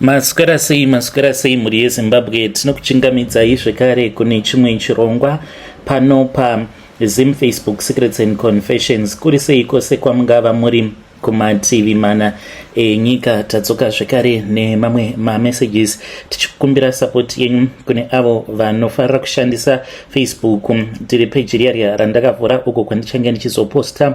maswera sei maswera sei mhuri yezimbabwe tinokuchingamidzai zvekare kune chimwe chirongwa pano pazim facebook secrets and confessions kuri sei kwose kwamungava muri kumativi mana enyika tadzoka zvekare nemamwe mamessages tichikumbira sapoti yenyu kune avo vanofarira kushandisa facebook tiri peji riya riya randakavhura uko kwandichange ndichizoposta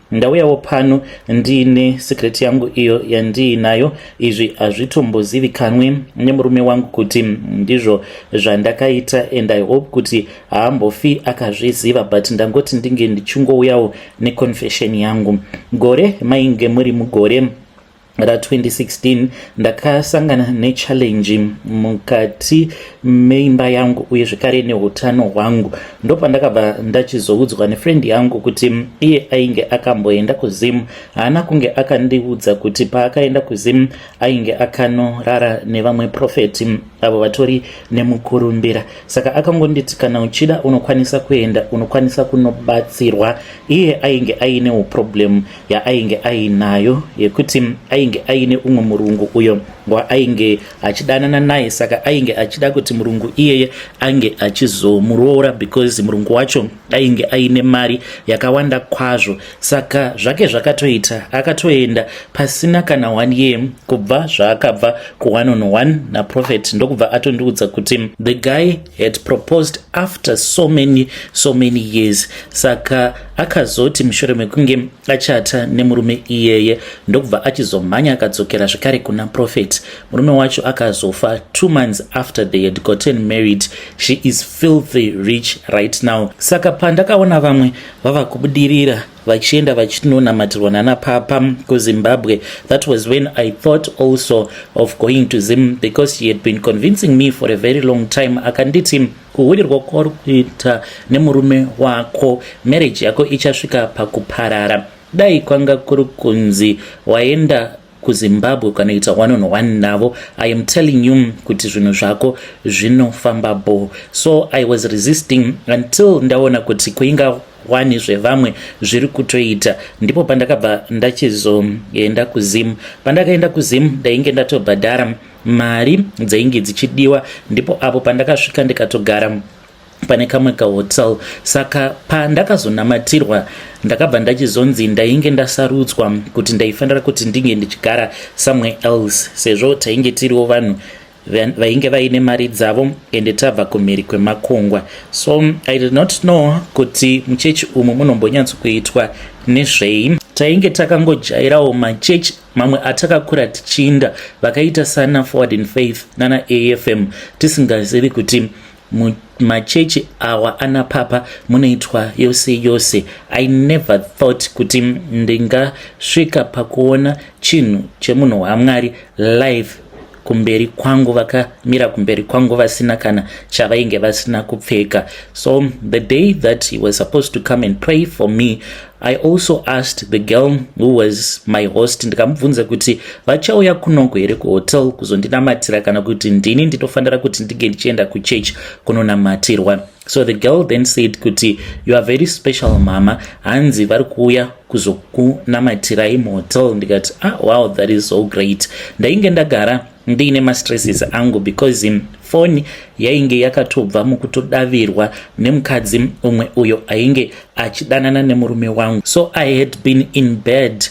Ndauyawo pano ndiine secret yangu iyo yandiinayo. Izvi hazvitombozivikanwi nemurume wangu kuti ndizvo zvandakaita and I hope kuti haambofi akazviziva but ndangoti ndinge ndichingouyawo neconfession yangu. Gore mainge muri mugore ra 2016 ndakasangana nechallenge mukati meimba yangu uye zvekare neutano hwangu ndopandakabva ndachizoudzwa nefrendi yangu kuti iye ainge akamboenda kuzim haana kunge akandiudza kuti paakaenda kuzim ainge akanorara nevamwe profeti avo vatori nemukurumbira saka akangonditi kana uchida unokwanisa kuenda unokwanisa kunobatsirwa iye ainge aine uproblem yaainge ainayo yekuti ainge aine umwe murungu uyo waainge achidanana naye saka ainge achida kuti murungu iyeye ange achizomuroora because murungu wacho ainge aine mari yakawanda kwazvo saka zvake zvakatoita akatoenda pasina kana one year kubva zvaakabva kuone on one naprofet ndokubva atondiudza kuti the guy had proposed after so many so many years saka Akazoti mushure mekunge achata nemurume iyeye ndokubva achizomhanya akadzokera zvekare kuna Prophet. Murume wacho akazofa two months after they had gotten married. She is filthy rich right now. Saka pandakaona vamwe vava kubudirira vachienda vachinonamatirwa nana papa kuzimbabwe that was when i thought also of going to zim because he had been convincing me for a very long time akanditi kuhurirwa kwauri kuita nemurume wako marriage yako ichasvika pakuparara dai kwanga kuri kunzi waenda kuzimbabwe ukanoita one on one navo i am telling you kuti zvinhu zvako zvinofamba bo so i was resisting until ndaona kuti kuinga wani zvevamwe zviri kutoita ndipo pandakabva ndachizoenda kuzim pandakaenda kuzim ndainge ndatobhadhara mari dzainge dzichidiwa ndipo apo pandakasvika ndikatogara pane kamwe kahotel saka pandakazonamatirwa ndakabva ndachizonzi ndainge ndasarudzwa kuti ndaifanira kuti ndinge ndichigara somewhere else sezvo tainge tiriwo vanhu vainge vaine mari dzavo ende tabva kumhiri kwemakungwa so i did not know kuti muchechi umu munombonyatsokuitwa nezvei tainge takangojairawo machechi mamwe atakakura tichiinda vakaita sana forward in faith nana afm tisingazivi kuti machechi awa ana papa munoitwa yose yose i never thought kuti ndingasvika pakuona chinhu chemunhu wamwari live kumberi kwangu vakamira kumberi kwangu vasina kana chavainge vasina kupfeka so the day that he was supposed to come and pray for me i also asked the girl who was my host ndikamubvunza kuti vachauya kunoko here kuhotel kuzondinamatira kana kuti ndini nditofanira kuti ndinge ndichienda kuchurch kunonamatirwa so the girl then said kuti you are very special mama hanzi vari kuuya kuzokunamatirai muhotel ndikati ah wow that is so great ndainge ndagara ndiine mastresses angu because in foni yainge yakatobva mukutodavirwa nemukadzi umwe uyo ainge achidanana nemurume wangu so i had been in bed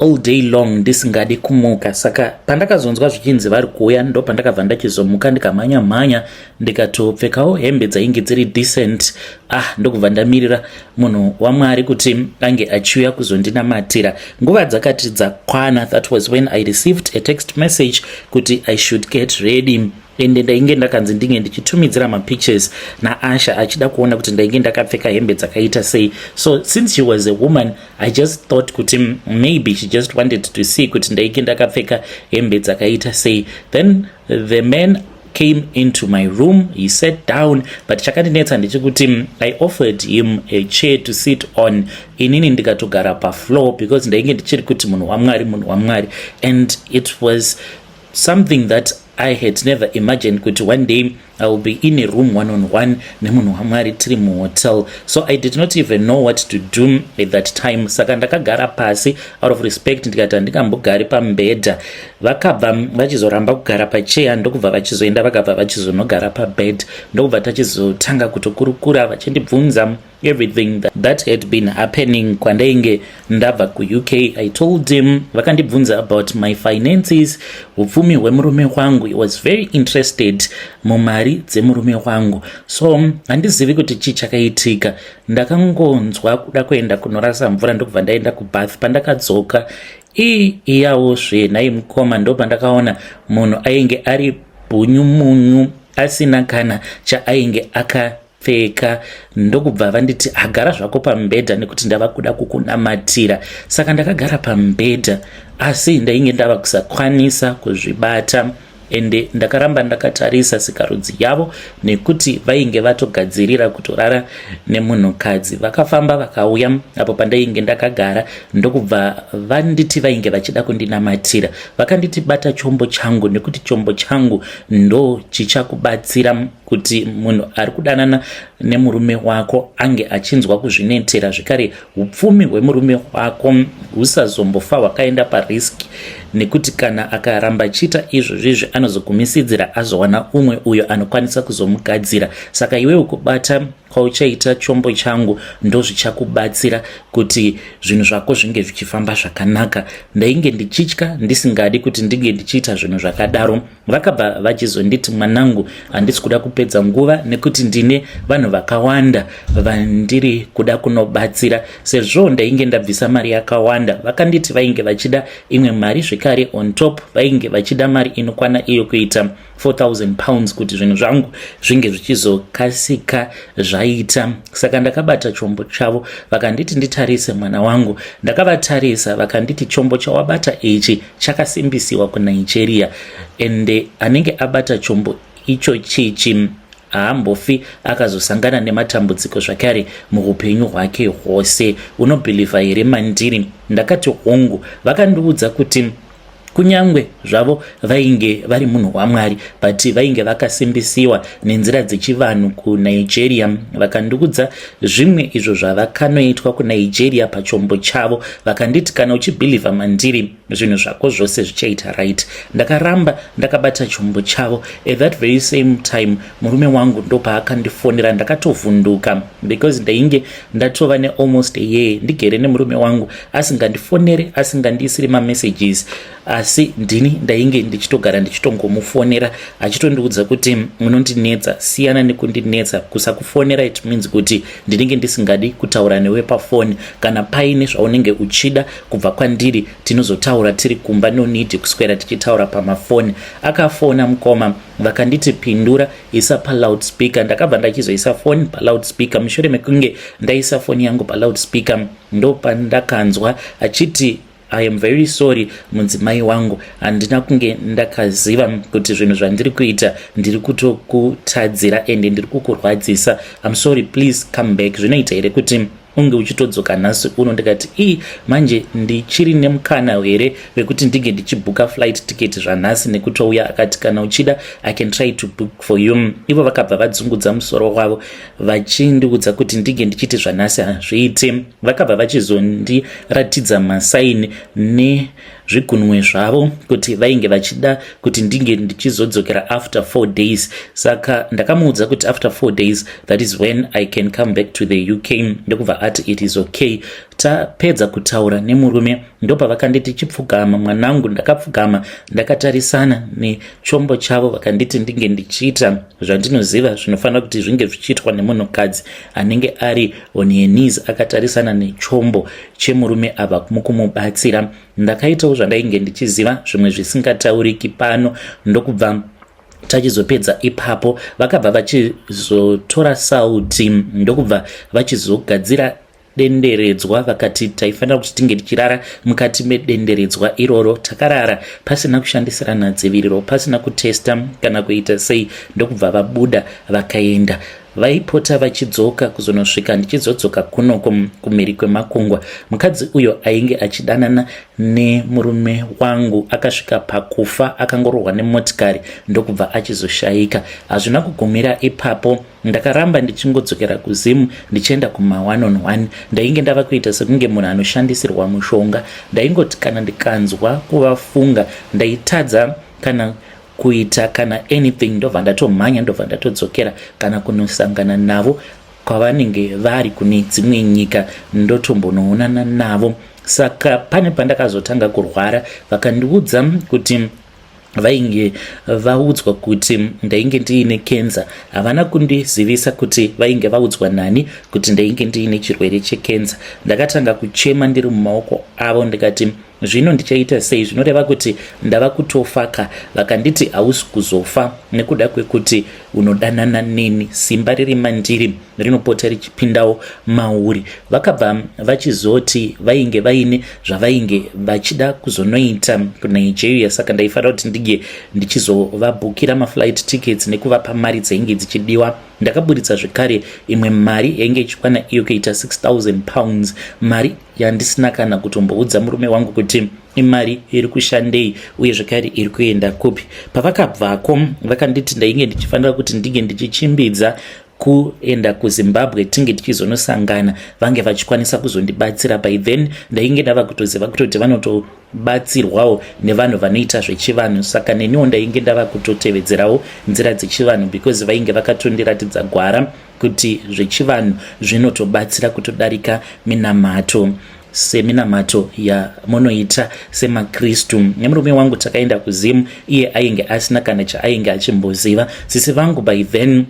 all day long ndisingadi kumuka saka pandakazonzwa zvichinzi vari kuuya ndo pandakabva ndachizomuka ndikamhanya mhanya ndikatopfekawo hembe dzainge dziri decent ah ndokubva ndamirira munhu wamwari kuti ange achiuya kuzondinamatira nguva dzakati dzakwana that was when i received a text message kuti i should get ready ende ndainge ndakanzi ndinge ndichitumidzira mapictures naasha achida kuona kuti ndainge ndakapfeka hembe dzakaita sei so since she was a woman i just thought kuti maybe she just wanted to see kuti ndaike ndakapfeka hembe dzakaita sei then the man came into my room he sat down but chakandinetsa ndechekuti mm, i offered him a chair to sit on inini ndikatogara pafloor because ndainge ndichiri kuti munhu wamwari munhu wamwari and it was something that i had never imagined kuti one day I will be in a room one on one nemunhu wamwari tiri muhotel so i did not even know what to do at that time saka ndakagara pasi out of respect ndikati handingambogari pambedha vakabva vachizoramba kugara pacheya ndokubva vachizoenda vakabva vachizonogara pabed ndokubva tachizotanga kutokurukura vachindibvunza everything that, that had been happening kwandainge ndabva kuuk i told him vakandibvunza about my finances upfumi hwemurume wangu i was very interested mumari dzemurume wangu so handizivi kuti chii chakaitika ndakangonzwa kuda kuenda kunorasa mvura ndokubva ndaenda kubath pandakadzoka ii iyawo zve nhai mukoma ndopandakaona munhu ainge ari bhunyu munyu asina kana chaainge aka pfeka ndokubva vanditi agara zvako pamubhedha nekuti ndava kuda kukunamatira saka ndakagara pamubhedha asi ndainge ndava kusakwanisa kuzvibata ende ndakaramba ndakatarisa sikarudzi yavo nekuti vainge vatogadzirira kutorara nemunhukadzi vakafamba vakauya apo pandainge ndakagara ndokubva vanditi vainge vachida kundinamatira vakanditi bata chombo changu nekuti chombo changu ndo chichakubatsira kuti munhu ari kudanana nemurume wako ange achinzwa kuzvinetera zvekare upfumi hwemurume wako husazombofa hwakaenda pariski nekuti kana akaramba chiita izvo zvizvi anozogumisidzira azowana umwe uyo anokwanisa kuzomugadzira saka iwewo kubata kwauchaita chombo changu ndozvichakubatsira kuti zvinhu zvako zvinge zvichifamba zvakanaka ndainge ndichitya ndisingadi kuti ndinge ndichiita zvinhu zvakadaro vakabva vachizonditi mwanangu handisi kuda kupedza nguva nekuti ndine vanhu vakawanda vandiri kuda kunobatsira sezvo ndainge ndabvisa mari yakawanda vakanditi vainge vachida imwe mari zvekare on top vainge vachida mari inokwana iyo kuita 4000 pounds kuti zvinhu zvangu zvinge zvichizokasika zvaita saka ndakabata chombo chavo vakanditi nditarise mwana wangu ndakavatarisa vakanditi chombo chawabata ichi chakasimbisiwa kunigeria and anenge abata chombo icho chichi haambofi akazosangana nematambudziko zvakare muupenyu hwake hwose unobhilivha here mandiri ndakati hongu vakandiudza kuti kunyange zvavo vainge vari munhu wamwari but vainge vakasimbisiwa nenzira dzechivanhu kunigeria vakandiudza zvimwe izvo zvavakanoitwa kunigeria pachombo chavo vakanditi kana uchibhilivha mandiri zvinhu zvako zvose zvichaita right ndakaramba ndakabata chombo chavo at that very same time murume wangu ndopaakandifonera ndakatovhunduka because ndainge ndatova nealmost a year ndigere nemurume wangu asingandifonere asingandiisiri mamessages asi ndini ndainge ndichitogara ndichitongomufonera achitondiudza kuti unondinetsa siyana nekundinetsa kusakufonera it means kuti ndinenge ndisingadi kutaura newe pafoni kana paine zvaunenge uchida kubva kwandiri tinozotaura tiri kumba no need kuswera tichitaura pamafoni akafona mukoma vakanditi pindura isa paloudspeaker ndakabva ndachizoisa foni paloudspeaker mushure mekunge ndaisa foni yangu paloudspeaker ndopandakanzwa achiti I am very sorry mudzimai wangu handina kunge ndakaziva kuti zvinhu zvandiri kuita ndiri kutokutadzira ende ndiri kukurwadzisa I'm sorry please come back zvinoita here kuti unge uchitodzoka nhasi uno ndikati ii manje ndichiri nemukana here vekuti ndinge ndichibhuka flight ticket zvanhasi nekutouya akati kana uchida i can try to book for you ivo vakabva vadzungudza musoro wavo vachindiudza kuti ndinge ndichiti zvanhasi hazviiti vakabva vachizondiratidza masaini nezvigunwe zvavo kuti vainge vachida kuti ndinge ndichizodzokera after four days saka ndakamuudza kuti after four days that is when i can come back to the uk ndokubva ati it is okay tapedza kutaura nemurume ndopavakanditi chipfugama mwanangu ndakapfugama ndakatarisana nechombo chavo vakanditi ndinge ndichiita zvandinoziva zvinofanira kuti zvinge zvichiitwa nemunhukadzi anenge ari on her knees akatarisana nechombo chemurume ava mukumubatsira ndakaitawo zvandainge ndichiziva zvimwe zvisingatauriki pano ndokubva tachizopedza ipapo vakabva vachizotora sauti ndokubva vachizogadzira denderedzwa vakati taifanira kuti tinge tichirara mukati medenderedzwa iroro takarara pasina kushandisirana dziviriro pasina kutesta kana kuita sei ndokubva vabuda vakaenda vaipota vachidzoka kuzonosvika ndichizodzoka kuno kumhiri kwemakungwa mukadzi uyo ainge achidanana nemurume wangu akasvika pakufa akangorohwa nemotikari ndokubva achizoshaika hazvina kugumira ipapo Ndakaramba ndichingodzokera kuZim ndichienda kuma one on one. Ndainge ndava kuita sekunge munhu anoshandisirwa mushonga. Ndaingoti kana ndikanzwa kuvafunga ndaitadza kana kuita kana anything ndobva ndatomhanya ndobva ndatodzokera kana kunosangana navo kwavanenge vari kune dzimwe nyika ndotombonoonana navo saka pane pandakazotanga kurwara vakandiudza kuti vainge vaudzwa kuti ndainge ndiine kenza havana kundizivisa kuti vainge vaudzwa nani kuti ndainge ndiine chirwere chekenza ndakatanga kuchema ndiri mumaoko avo ndikati zvino ndichaita sei zvinoreva kuti ndava kutofaka vakanditi hausi kuzofa nekuda kwekuti unodanana neni simba riri mandiri rinopota richipindawo mauri vakabva vachizoti vainge vaine zvavainge vachida kuzonoita kunigeria saka ndaifanira kuti ndinge ndichizovabhukira maflight tickets nekuvapa mari dzainge dzichidiwa ndakaburitsa zvekare imwe mari yainge ichikwana iyo kuita 6000 pounds mari yandisina kana kutomboudza murume wangu kuti imari iri kushandei uye zvekare iri kuenda kupi pavakabvako vakanditi ndainge ndichifanira kuti ndinge ndichichimbidza kuenda kuzimbabwe tinge tichizonosangana vange vachikwanisa kuzondibatsira by then ndainge ndava kutoziva kutoti vanotobatsirwawo nevanhu vanoita zvechivanhu saka neniwo ndainge ndava kutotevedzerawo nzira dzechivanhu because vainge vakatondiratidza gwara kuti zvechivanhu zvinotobatsira kutodarika minamato seminamato yamunoita semakristu nemurume wangu takaenda kuzimu iye ainge asina kana chaainge achimboziva sisi vangu by then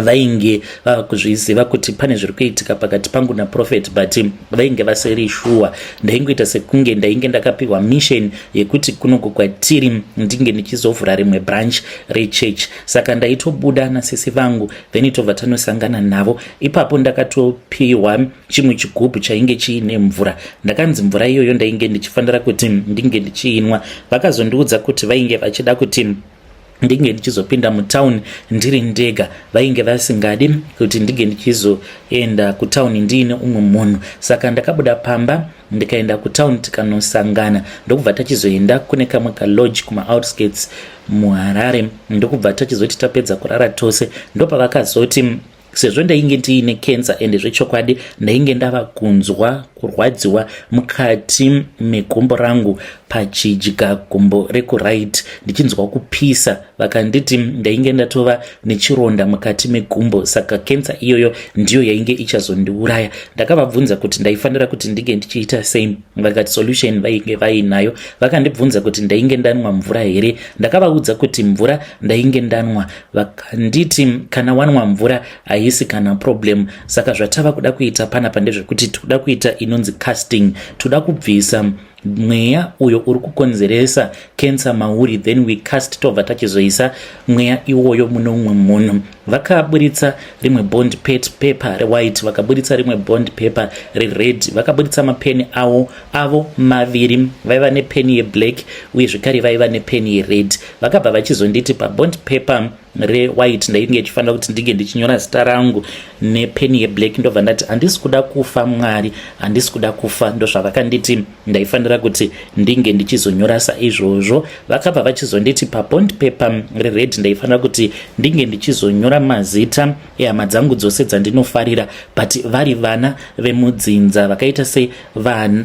vainge vava kuzviziva kuti pane zviri kuitika pakati pangu naprofet but vainge vasiri shuwa ndaingoita sekunge ndainge ndakapiwa mission yekuti kunoku kwatiri ndinge ndichizovhura rimwe branch rechurch saka ndaitobuda nasisi vangu then tobva tanosangana navo ipapo ndakatopiwa chimwe chigubhu chainge chiine mvura ndakanzi mvura iyoyo ndainge ndichifanira kuti ndinge ndichiinwa vakazondiudza kuti vainge vachida kuti ndinge ndichizopinda mutown ndiri ndega vainge vasingadi kuti ndinge ndichizoenda kutown ndiine umwe munhu saka ndakabuda pamba ndikaenda kutown tikanosangana ndokubva tachizoenda kune kamwe kalodge kumaoutskirts muharare ndokubva tachizoti tapedza kurara tose ndopavakazoti sezvo ndainge ndiine cancer ende zvechokwadi ndainge ndava kunzwa kurwadziwa mukati megumbo rangu pachidya gumbo rekuright ndichinzwa kupisa vakanditi ndainge ndatova nechironda mukati megumbo saka kensa iyoyo ndiyo yainge ichazondiuraya ndakavabvunza kuti ndaifanira kuti ndinge ndichiita sei vakati solution vainge vainayo vakandibvunza kuti ndainge ndanwa mvura here ndakavaudza kuti mvura ndainge ndanwa vakanditi kana wanwa mvura haisi kana problem saka zvatava kuda kuita panapa ndezvekuti tikuda kuita inonzi casting tikuda kubvisa mweya uyo uri kukonzeresa cancer mauri then we cast tobva tachizoisa mweya iwoyo mune umwe munhu vakaburitsa rimwe bond pet paper rewhite vakaburitsa rimwe bond paper rered vakaburitsa mapeni awo avo maviri vaiva nepeni yeblack uye zvekare vaiva nepeni yered vakabva vachizonditi pabond paper rewhite ndainge ichifanira kuti ndinge ndichinyora zita rangu nepeni yeblack ndobva ndati handisi kuda kufa mwari handisi kuda kufa ndozvavakanditi ndaifanira kuti ndinge ndichizonyora saizvozvo vakabva vachizonditi pabond paper rered ndaifanira kuti ndinge ndichizonyora mazita ehama dzangu dzose dzandinofarira but vari vana vemudzinza vakaita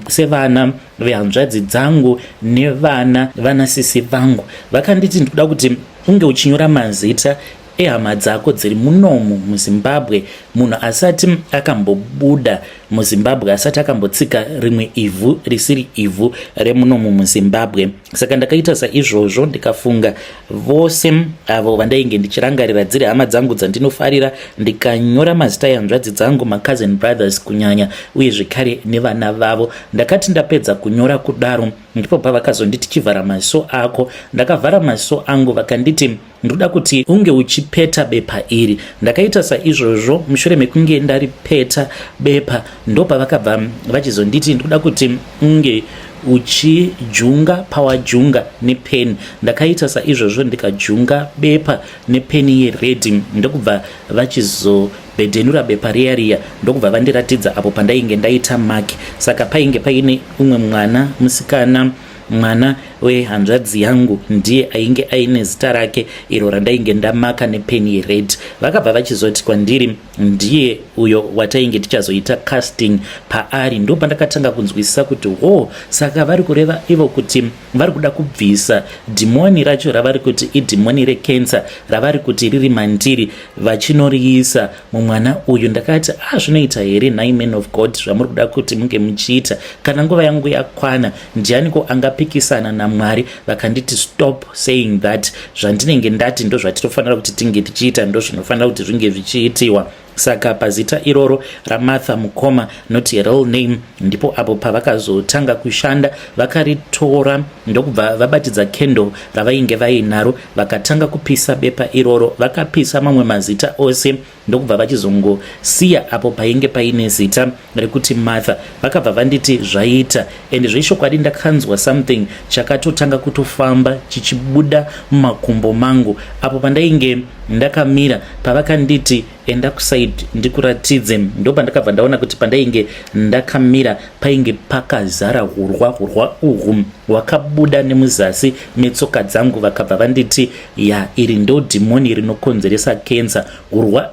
sevana vehanzvadzi dzangu nevana vanasisi vangu vakanditi ndikuda kuti Hunge uchinyora mazita ehama dzako dziri munomu muzimbabwe munhu asati akambobuda muzimbabwe asati akambotsika rimwe ivhu risiri ivhu remunomu muzimbabwe saka ndakaita saizvozvo ndikafunga vose avo vandainge ndichirangarira dziri hama dzangu dzandinofarira ndikanyora mazita yanzvadzi dzangu macousin brothers kunyanya uye zvekare nevana vavo ndakati ndapedza kunyora kudaro ndipo pavakazonditi chivhara maziso ako ndakavhara maziso angu vakanditi ndoda kuti unge uchipeta bepa iri ndakaita saizvozvo mushure mekunge ndaripeta bepa ndopavakabva vachizonditi ndoda kuti unge uchijunga pawajunga nepeni ndakaita saizvozvo ndikajunga bepa nepeni yeredhi ndokubva vachizo Vedenura bepa riya riya ndokubva vandiratidza apo pandainge ndaita mark saka painge paine umwe mwana musikana mwana wehanzvadzi yangu ndiye ainge aine zita rake iro randainge ndamaka nepeni yered vakabva vachizoti kwandiri ndiye uyo watainge tichazoita casting paari ndopandakatanga kunzwisisa kuti hoo saka vari kureva ivo kuti vari kuda kubvisa dhimoni racho ravari kuti idhimoni rekensa ravari kuti riri mandiri vachinoriisa mumwana uyu ndakati a ah, zvinoita here nhai man of god zvamuri kuda kuti munge muchiita kana nguva yangu yakwana ndianiko angapikisana namwari vakanditi stop saying that zvandinenge ndati ndozvatinofanira kuti tinge tichiita ndozvinofanira kuti zvinge zvichiitiwa Saka pazita iroro raMartha Mukoma not real name ndipo apo pavakazotanga kushanda vakaritora ndokubva vabatidza candle ravainge vainaro vakatanga kupisa bepa iroro vakapisa mamwe mazita ose ndokubva vachizongosiya apo painge paine zita rekuti Martha vakabva vanditi zvaita and zvechokwadi ndakanzwa something chakatotanga kutofamba chichibuda mumakumbo mangu apo pandainge ndakamira pavakanditi enda kusaid ndikuratidze ndopa ndakabva ndaona kuti pandainge ndakamira painge pakazara hurwa hurwa uhu hwakabuda nemuzasi metsoka dzangu vakabva vanditi ya iri ndo dhimoni rinokonzeresa kensa hurwa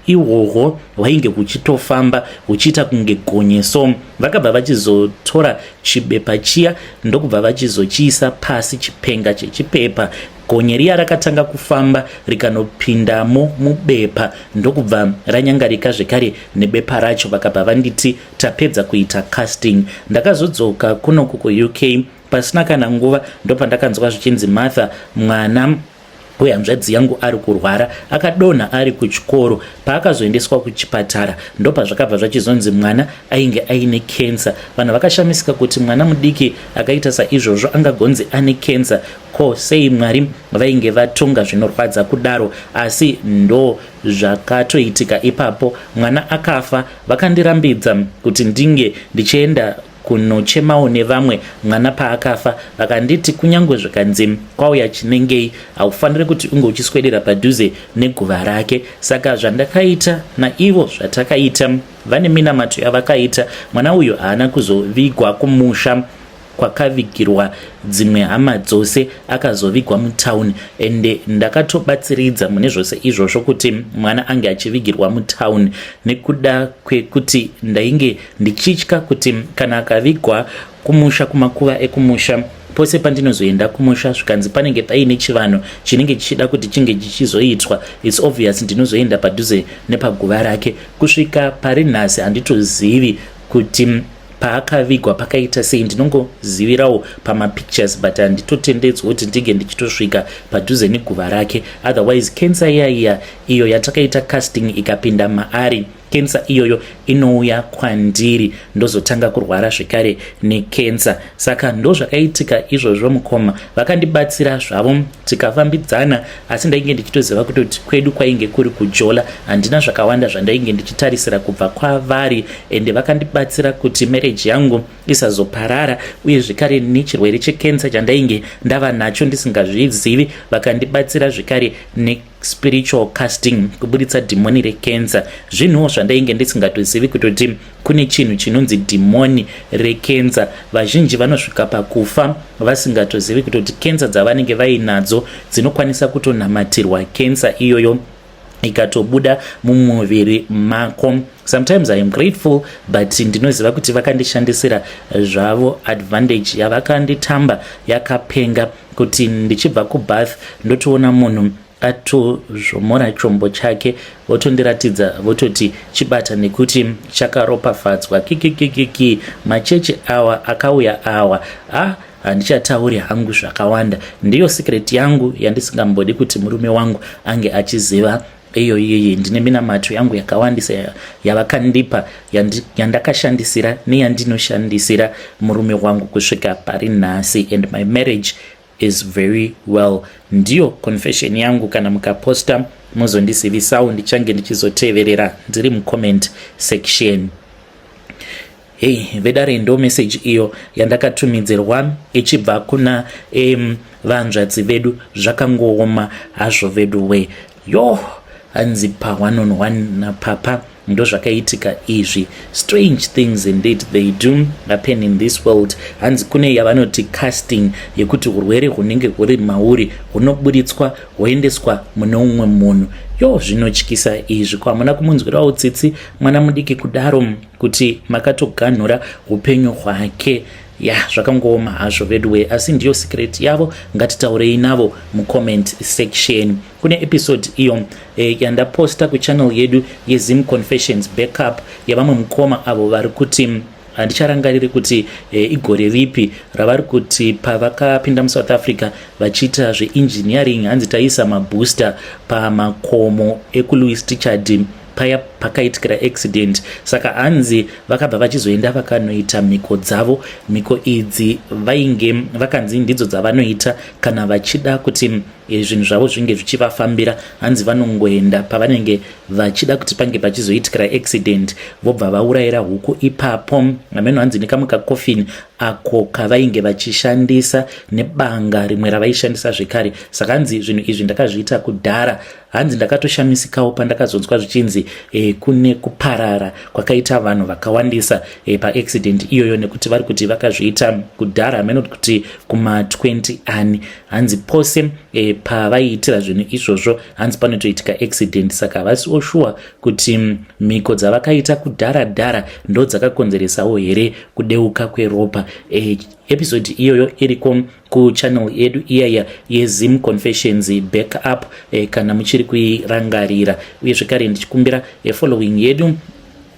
ihwohwo hwainge huchitofamba huchiita kunge gonye so vakabva vachizotora chibepa chiya ndokubva vachizochiisa pasi chipenga chechipepa gonye riya rakatanga kufamba rikanopindamo mubepa ndokubva ranyangarika zvekare nebepa racho vakabva vanditi tapedza kuita casting ndakazodzoka kunoku kuuk pasina kana nguva ndopandakanzwa zvichinzi martha mwana uye hanzvadzi yangu ari kurwara akadonha ari kuchikoro paakazoendeswa kuchipatara ndopazvakabva zvachizonzi mwana ainge aine kensa vanhu vakashamisika kuti mwana mudiki akaita saizvozvo angagonzi ane kensa ko sei mwari vainge vatonga zvinorwadza kudaro asi ndo zvakatoitika ipapo mwana akafa vakandirambidza kuti ndinge ndichienda kunochemawo nevamwe mwana paakafa vakanditi kunyange zvikanzi kwauya chinengei haufanire kuti unge uchiswedera padhuze neguva rake saka zvandakaita naivo zvatakaita vane minamato yavakaita mwana uyu haana kuzovigwa kumusha kwakavigirwa dzimwe hama dzose akazovigwa mutown ende ndakatobatsiridza mune zvose izvozvo kuti mwana ange achivigirwa mutown nekuda kwekuti ndainge ndichitya kuti kana akavigwa kumusha kumakuva ekumusha pose pandinozoenda kumusha zvikanzi panenge paine chivanhu chinenge chichida kuti chinge chichizoitwa its obvious ndinozoenda padhuze nepaguva rake kusvika pari nhasi handitozivi kuti paakavigwa pakaita sei ndinongozivirawo pamapictures but handitotendedzwa kuti ndinge ndichitosvika padhuze neguva rake otherwise cancer iya iya iyo yatakaita casting ikapinda maari kensa iyoyo inouya kwandiri ndozotanga kurwara zvekare nekensa saka ndozvakaitika izvozvo mukoma vakandibatsira zvavo tikafambidzana asi ndainge ndichitoziva kutoti kwedu kwainge kuri kujola handina zvakawanda zvandainge ndichitarisira kubva kwavari ende vakandibatsira kuti mereji yangu isazoparara uye zvekare nechirwere chekensa chandainge ndava nacho ndisingazvizivi vakandibatsira zvekare ne spiritual casting kuburitsa dhimoni rekenza zvinhuwo zvandainge ndisingatozivi kutoti kune chinhu chinonzi dhimoni rekenza vazhinji vanosvika pakufa vasingatozivi kutoti kenza dzavanenge vainadzo dzinokwanisa kutonamatirwa kenza iyoyo ikatobuda mumuviri mako sometimes i am grateful but ndinoziva kuti vakandishandisira zvavo advantage yavakanditamba yakapenga kuti ndichibva kubath ndotoona munhu atozvomora chombo chake votondiratidza vototi chibata nekuti chakaropafadzwa kikikikiki machechi awa akauya awa ah handichatauri hangu zvakawanda ndiyo secret yangu yandisingambodi kuti murume wangu ange achiziva iyo iyoyi ndine minamato yangu yakawandisa yavakandipa yandakashandisira neyandinoshandisira murume wangu kusvika pari nhasi and my marriage is very well ndiyo confession yangu kana mukaposta mozondizivisawo ndichange ndichizoteverera ndiri mucomment section Hey vedare ndo message iyo yandakatumidzirwa ichibva kuna um, vanzvadzi vedu zvakangooma hazvo vedu we yo hanzi pa one on one napapa ndozvakaitika izvi strange things indeed they do happen in this world hanzi kune yavanoti casting yekuti urwere hunenge huri mauri hunoburitswa hwoendeswa mune umwe munhu yo zvinotyisa izvi ko hamuna kumunzwirawo tsitsi mwana mudiki kudaro kuti makatoganhura upenyu hwake ya zvakangooma hazvo veduwe asi ndiyo secret yavo ngatitaurei navo mucomment section kune episode iyo e, yandaposta kuchannel yedu yezim confessions backup yavamwe mukoma avo vari kuti handicharangariri kuti e, igore ripi ravari kuti pavakapinda musouth africa vachiita zveengineering hanzi taisa mabooster pamakomo ekulouis tichard paya pakaitikira accident saka hanzi vakabva vachizoenda vakanoita mhiko dzavo mhiko idzi vainge vakanzi ndidzo dzavanoita kana vachida kuti eh, zvinhu zvavo zvinge zvichivafambira hanzi vanongoenda pavanenge vachida kuti pange pachizoitikira accident vobva vaurayira huku ipapo ameno hanzi nekamwe kakofini ako kavainge vachishandisa nebanga rimwe ravaishandisa zvekare saka hanzi zvinhu izvi ndakazviita kudhara Hanzi ndakatoshamisikawo pandakazonzwa zvichinzi e, kune kuparara kwakaita vanhu vakawandisa e, paaccident iyoyo nekuti vari kuti vakazviita kudhara hameno kuti kuma20 ani hanzi pose e, pavaiitira zvinhu izvozvo hanzi panotoitika accident saka havasi oshuwa kuti mm, mhiko dzavakaita kudhara dhara ndo dzakakonzeresawo here kudeuka kweropa e, episode iyoyo iriko kuchannel yedu iyaya yezim confessions back up eh, kana muchiri kuirangarira uye zvekare ndichikumbira eh, following yedu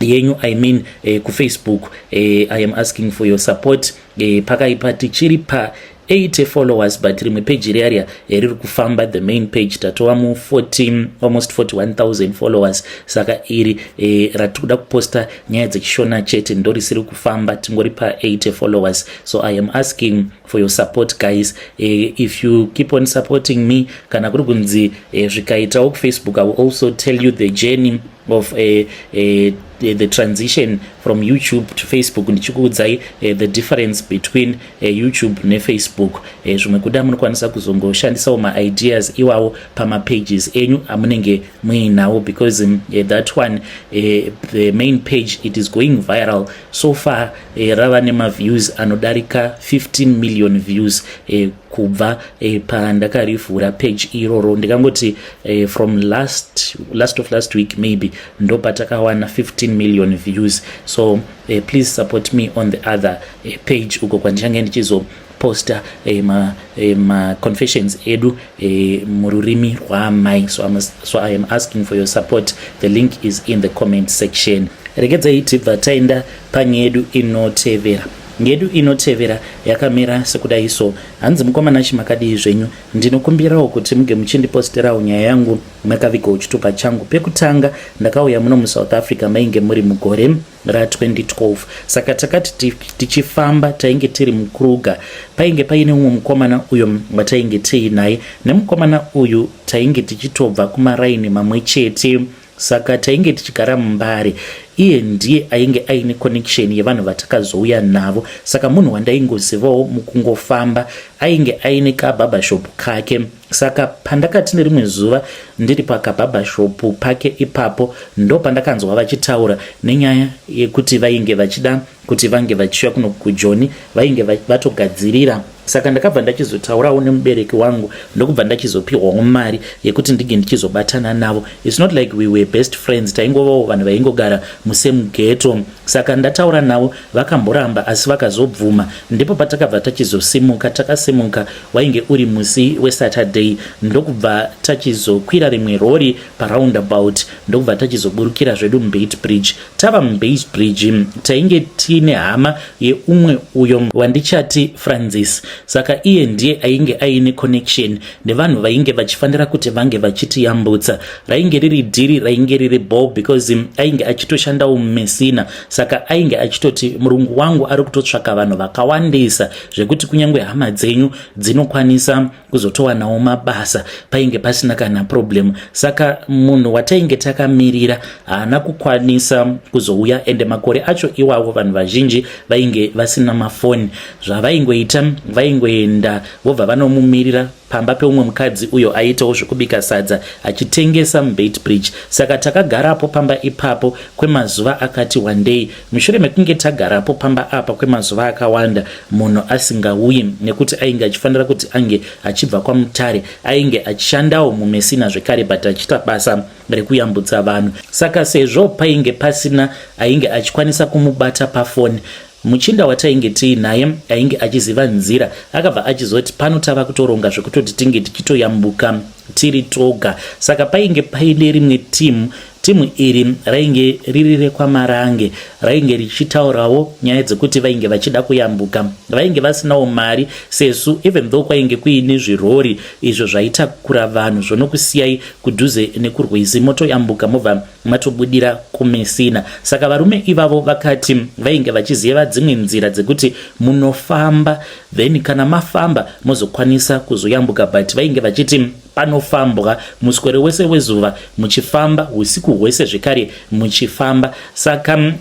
yenyu i mean eh, kufacebook eh, i am asking for your support eh, pakaipa tichiri pa 80 followers but rimwe page iri aria eh, riri kufamba the main page tatova mu 14 almost 41000 followers saka iri eh, ratikuda kuposta nyaya dzechishona chete ndorisiri kufamba tingori pa 80 followers so i am asking for your support guys eh, if you keep on supporting me kana kuri kunzi eh, zvikaitawo kufacebook i will also tell you the journey of eh, eh, the, the transition from youtube to facebook ndichikuudzai eh, the difference between eh, youtube nefacebook eh, zvimwe kuda munokwanisa kuzongoshandisawo maideas iwawo pamapages enyu amunenge muinawo because um, eh, that one eh, the main page it is going viral so far e, rava nemaviews anodarika 15 million views e, kubva e, pandakarivhura page iroro ndikangoti e, from last, last of last week maybe ndo patakawana 15 million views so e, please support me on the other e, page uko kwandichange ndichizo posta eh, ma, eh, ma confessions edu eh, mururimi rwaamai so, so i am asking for your support the link is in the comment section regedzai tibva taenda panyedu inotevera ngedu inotevera yakamira sekudai so hanzi mukomana chi makadii zvenyu ndinokumbirawo kuti muge muchindiposterawo nyaya yangu makavigawo chitupa changu pekutanga ndakauya muno musouth africa mainge muri mugore ra 2012 saka takati tichifamba tainge tiri mukruga painge paine umwe mukomana uyo watainge tiinaye nemukomana uyu tainge tichitobva kumaraini mamwe chete saka tainge tichigara mumbare iye ndiye ainge aine connection yevanhu vatakazouya navo saka munhu wandaingozivawo mukungofamba ainge aine kababashop kake Saka pandakati nerimwe zuva ndiri pakabhabhashopu pake ipapo ndo pandakanzwa vachitaura nenyaya yekuti vainge vachida kuti vange vachiuya kuno kujoni vainge vatogadzirira saka ndakabva ndachizotaurawo nemubereki wangu ndokubva ndachizopihwawo mari yekuti ndinge ndichizobatana navo its not like we were best friends taingovawo vanhu vaingogara musame geto saka ndataura navo vakamboramba asi vakazobvuma ndipo patakabva tachizosimuka takasimuka Wainge uri musi weSaturday ndokubva tachizokwira rimwe rori paroundabout ndokubva tachizoburukira zvedu muBeitbridge. Tava muBeitbridge tainge tiine hama yeumwe uyo wandichati Francis saka iye ndiye ainge aine connection nevanhu vainge vachifanira kuti vange vachitiyambutsa. Rainge riri dhiri rainge riri bho because ainge achitoshandawo mumesina saka ainge achitoti murungu wangu ari kutotsvaka vanhu vakawandisa zvekuti kunyange hama dzenyu dzinokwanisa kuzotowanawo mabasa painge pasina kana problem saka munhu watainge takamirira haana kukwanisa kuzouya ende makore acho iwavo vanhu vazhinji vainge vasina mafoni zvavaingoita vaingoenda vobva vanomumirira pamba peumwe mukadzi uyo aiitawo zvekubika sadza achitengesa mubeitbridge saka takagarapo pamba ipapo kwemazuva akati wandei mushure mekunge tagarapo pamba apa kwemazuva akawanda munhu asingauyi nekuti ainge achifanira kuti ange achibva kwamutare ainge achishandawo mumesina zvekare but achiita basa rekuyambutsa vanhu saka sezvo painge pasina ainge achikwanisa kumubata pafoni Muchinda watainge tiinaye ainge achiziva nzira akabva achizoti pano tava kutoronga zvekutoti tinge tichitoyambuka tiri toga saka painge paine rimwe timu timu iri rainge riri rekwamarange rainge richitaurawo nyaya dzekuti vainge vachida kuyambuka vainge vasinawo mari sesu even though kwainge kuine zvirori izvo zvaitakura vanhu zvonokusiyai kudhuze nekurwizi motoyambuka mobva matobudira kumesina saka varume ivavo vakati vainge vachiziyeva dzimwe nzira dzekuti munofamba then kana mafamba mozokwanisa kuzoyambuka but vainge vachiti panofambwa muswero wese wezuva muchifamba usiku hwese zvekare muchifamba saka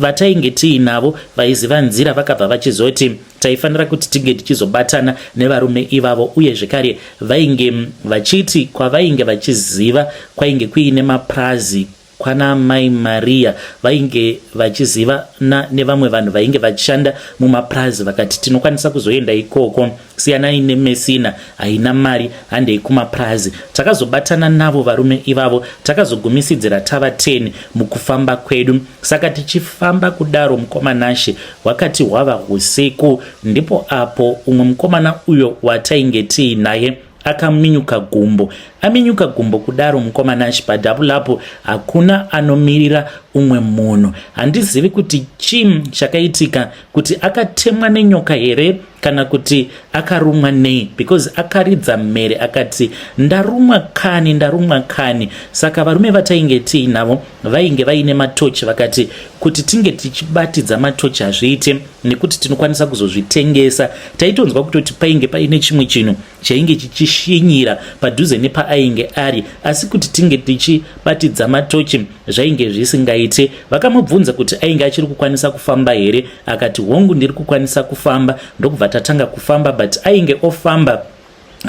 Vatainge tiinavo vaiziva nzira vakabva vachizoti taifanira kuti tinge tichizobatana nevarume ivavo uye zvekare vainge vachiti kwavainge vachiziva kwainge kuine mapurazi kwana mai maria vainge vachizivana nevamwe vanhu vainge vachishanda mumapurazi vakati tinokwanisa kuzoenda ikoko siyanai nemesina haina mari handei kumapurazi takazobatana navo varume ivavo takazogumisidzira tava 10 mukufamba kwedu saka tichifamba kudaro mukomanashe hwakati hwava husiku ndipo apo umwe mukomana uyo watainge tiinaye akaminyuka gumbo aminyuka gumbo kudaro mukomanashi padhabulapo hakuna anomirira umwe munhu handizivi kuti chim chakaitika kuti akatemwa nenyoka here kana kuti akarumwa nei because akaridza mhere akati ndarumwa kani ndarumwa kani saka varume vatainge tii navo vainge vaine matochi vakati kuti tinge tichibatidza matochi hazviite nekuti tinokwanisa kuzozvitengesa taitonzwa kutoti painge paine chimwe chinhu chainge chichishinyira padhuze nepaainge ari asi kuti tinge tichibatidza matochi zvainge zvisingaite vakamubvunza kuti ainge achiri kukwanisa kufamba here akati hongu ndiri kukwanisa kufamba ndokubva tatanga kufamba but ainge ofamba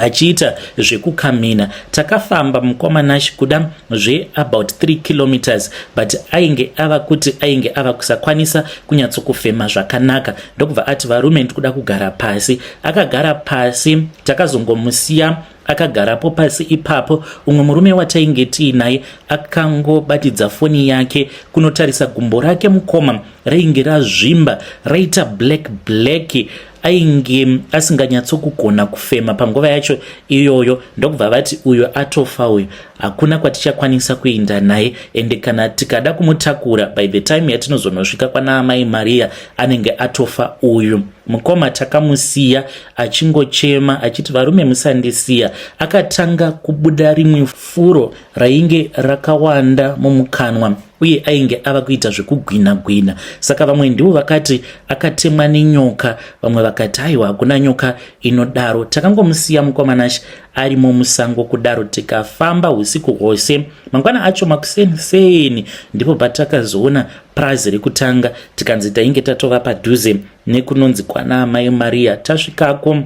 achiita zvekukamina takafamba mukoma nash kuda zveabout 3 kilometers but ainge ava kuti ainge ava kusakwanisa kunyatsokufema zvakanaka ndokubva ati varume ndikuda kugara pasi akagara pasi takazongomusiya akagarapo pasi ipapo umwe murume watainge tiinaye akangobatidza foni yake kunotarisa gumbo rake mukoma rainge razvimba raita black black ainge asinganyatsokugona kufema panguva yacho iyoyo ndokubva vati uyo atofa uyo hakuna kwatichakwanisa kuenda naye ende kana tikada kumutakura by the time yatinozonosvika kwanaamai mariya anenge atofa uyu Mukoma takamusiya achingochema achiti varume musandisiya. Akatanga kubuda rimwe furo rainge rakawanda mumukanwa uye ainge ava kuita zvekugwina gwina. Saka vamwe ndivo vakati akatemwa nenyoka, vamwe vakati aiwa hakuna nyoka inodaro. Takangomusiya mukoma Nash arimo musango kudaro tikafamba usiku hwose. Mangwana acho makuseni seni ndipo patakazoona Purazi rekutanga tikanzi tainge tatova padhuze nekunonzi kwana amai Maria. Tasvikako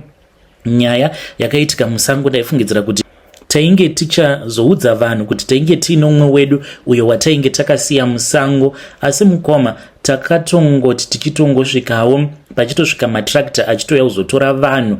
nyaya yakaitika musango ndaifungidzira kuti tainge tichazoudza vanhu kuti tainge tiine umwe wedu uyo watainge takasiya musango asi mukoma takatongoti tichitongosvikawo pachitosvika matractor achitouya kuzotora vanhu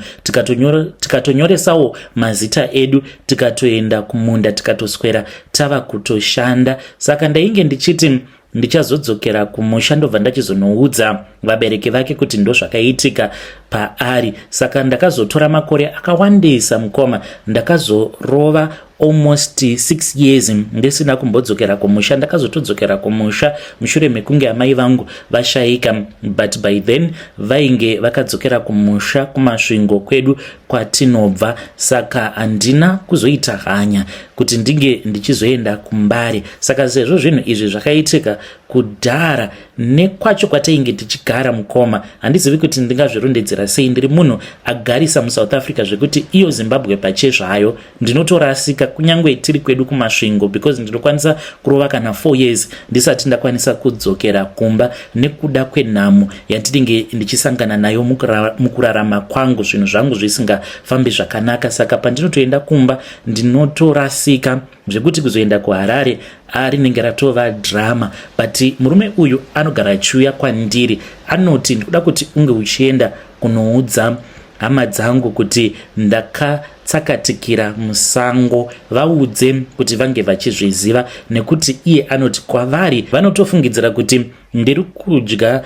tikatonyoresawo tika mazita edu tikatoenda kumunda tikatoswera tava kutoshanda saka ndainge ndichiti ndichazodzokera kumusha ndobva ndachizonoudza vabereki vake kuti ndozvakaitika paari saka ndakazotora makore akawandisa mukoma ndakazorova almost 6 years ndisina kumbodzokera kumusha ndakazotodzokera kumusha mushure mekunge amai vangu vashaika but by then vainge vakadzokera kumusha kumasvingo kwedu kwatinobva saka handina kuzoita hanya kuti ndinge ndichizoenda kumbare saka sezvo zvinhu izvi zvakaitika kudhara nekwacho kwatainge tichigara mukoma handizivi kuti ndingazvirondedzera sei ndiri munhu agarisa musouth africa zvekuti iyo zimbabwe pachezvayo ndinotorasika kunyange tiri kwedu kumasvingo because ndinokwanisa kurova kana four years ndisati ndakwanisa kudzokera kumba nekuda kwenhamo yandinenge ndichisangana nayo mukurarama kwangu zvinhu zvangu zvisingafambi zvakanaka saka pandinotoenda kumba ndinotorasika zvekuti kuzoenda kuharare rinenge ratova drama but murume uyu anogara achiuya kwandiri anoti ndikuda kuti unge uchienda kunoudza hama dzangu kuti ndaka tsakatikira musango vaudze kuti vange vachizviziva nekuti iye anoti kwavari vanotofungidzira kuti ndiri kudya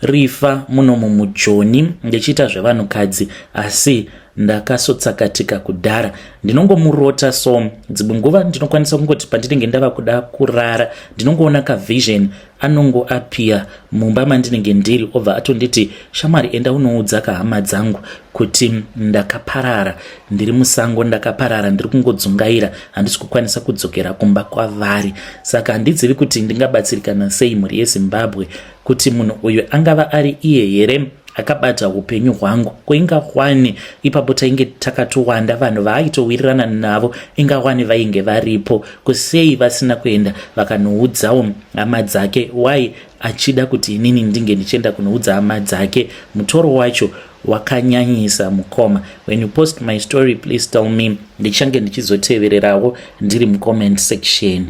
rifa muno mumujoni ndichiita zvevanhukadzi asi ndakasotsakatika kudhara ndinongomurota so dzimwe nguva ndinokwanisa kungoti pandinenge ndava kuda kurara ndinongoona kavision anongo apia mumba mandinenge ndiri obva atonditi shamwari enda unoudza kahama dzangu kuti ndakaparara ndiri musango ndakaparara ndiri kungodzungaira handisi kukwanisa kudzokera kumba kwavari saka handizivi kuti ndingabatsirikana sei mhuri yezimbabwe kuti munhu uyu angava ari iye here akabata upenyu hwangu ko ingawani ipapo tainge takatowanda vanhu vaaitowirirana navo ingawani vainge varipo ko sei vasina kuenda vakanoudzawo hama dzake why achida kuti inini ndinge ndichienda kunoudza hama dzake mutoro wacho wakanyanyisa mukoma when you post my story please tell me ndichange ndichizotevererawo ndiri mucomment section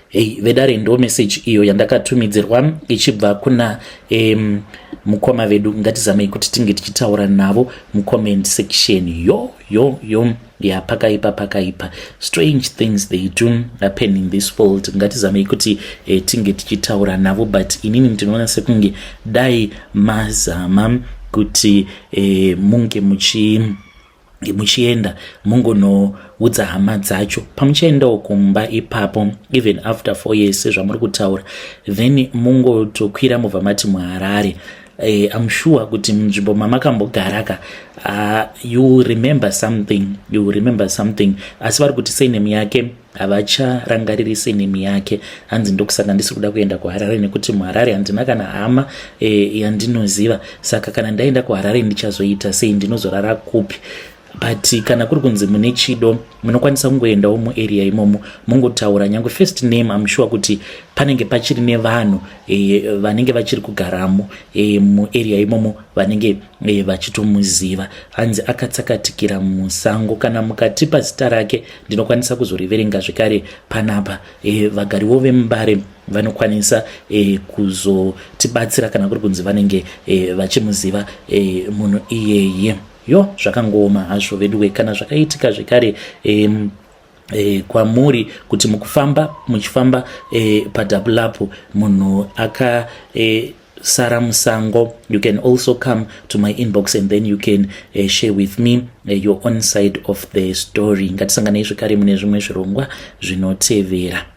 hey, vedare ndo message iyo yandakatumidzirwa ichibva kuna um, mukoma vedu ngatizamei kuti tinge tichitaura navo mucomment section yo yo yo yeah pakaipa pakaipa strange things they do happen in this world ngatizamei kuti eh, tinge tichitaura navo but inini ndinoona sekunge dai mazama kuti eh, munge muchi muchienda mungonoudza hama dzacho pamuchaendawo kumba ipapo even after four years sezvamuri kutaura then mungotokwira mubva mati muharare Hey, eh, I'm sure kuti munzvimbo mamakambogaraka uh, you remember something you remember something asi vari kuti surname yake havacharangariri surname yake hanzi ndokusaka ndisi kuda kuenda kuharare nekuti muharare handina kana hama eh, yandinoziva saka kana ndaenda kuharare ndichazoita sei ndinozorara kupi but kana kuri kunzi mune chido munokwanisa kungoendawo muarea imomo mongotaura nyange first name am sure kuti panenge pachiri nevanhu e, vanenge vachiri kugaramo e, muarea imomo vanenge e, vachitomuziva hanzi akatsakatikira musango kana mukatipa zita rake ndinokwanisa kuzoriverenga zvekare panapa e, vagariwo vemubare vanokwanisa e, kuzotibatsira kana kuri kunzi vanenge e, vachimuziva e, munhu iyeye Yo zvakangooma hazvo veduwe kana zvakaitika zvekare um, E, kwamuri kuti mukufamba muchifamba e, padabulapu munhu aka e, Sara Musango. You can also come to my inbox and then you can uh, share with me uh, your own side of the story. Ngatisanganei zvekare mune zvimwe zvirongwa zvinotevera.